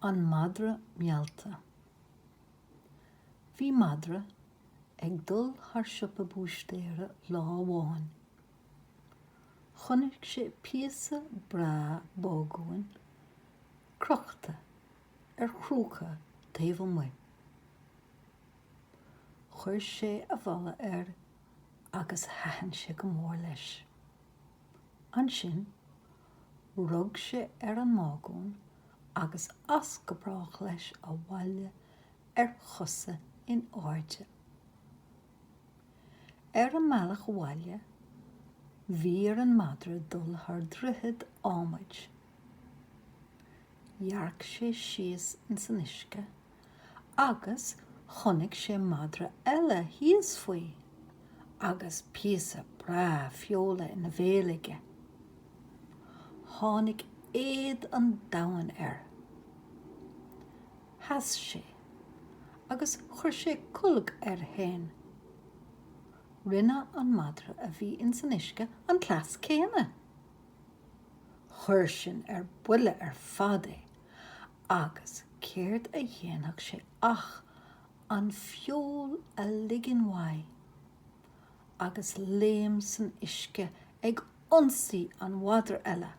An madra meallta. Bhí madra ag dul thar siopa búistéara lá amháin. Chonaic sé píosa breá bágúin crochta ar chrúca taobh amuigh. Chuir sé a bholadh air agus thaitin sé go mór leis. Ansin Rug sé ar an mbágún agus as go brách leis abhaile ar chosa in airde. Ar an mbealach abhaile bhí ar an madra dul thar droichead ádhmaid. Dhearc sé síos ins an uisce. agus chonaic sé madra eile thíos faoi agus píosa breá feola ina bhéal aige. Tháinig éad an domhain air. Sheas sé agus chuir sé colg air fhéin. Rinne an madra a bhí ins an uisce an cleas céanna. Chuir sin ar buile ar fad é Agus céard a dhéanfadh sé ach an feoil a ligean uaidh agus léim san uisce ag ionsaí an mhadra eile,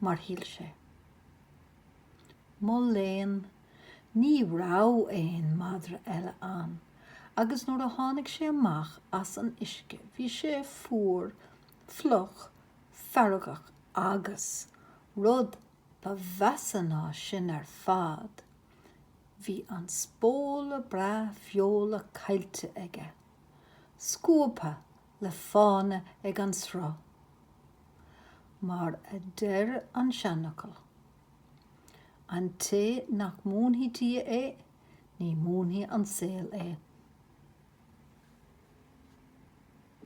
mar shíl sé. Mo léan, ní raibh aon madra eile ann agus nuair a tháinig sé amach as an uisce bhí sé fuar, fliuch, feargach agus, rud Ba mheasa ná sin ar fad, bhí an spóla breá feola caillte aige, scuabtha le fána ag an sruth. Mar a deir an seanfhocal, An té nach múinfidh Dia é, ní mhúinfidh an saol é.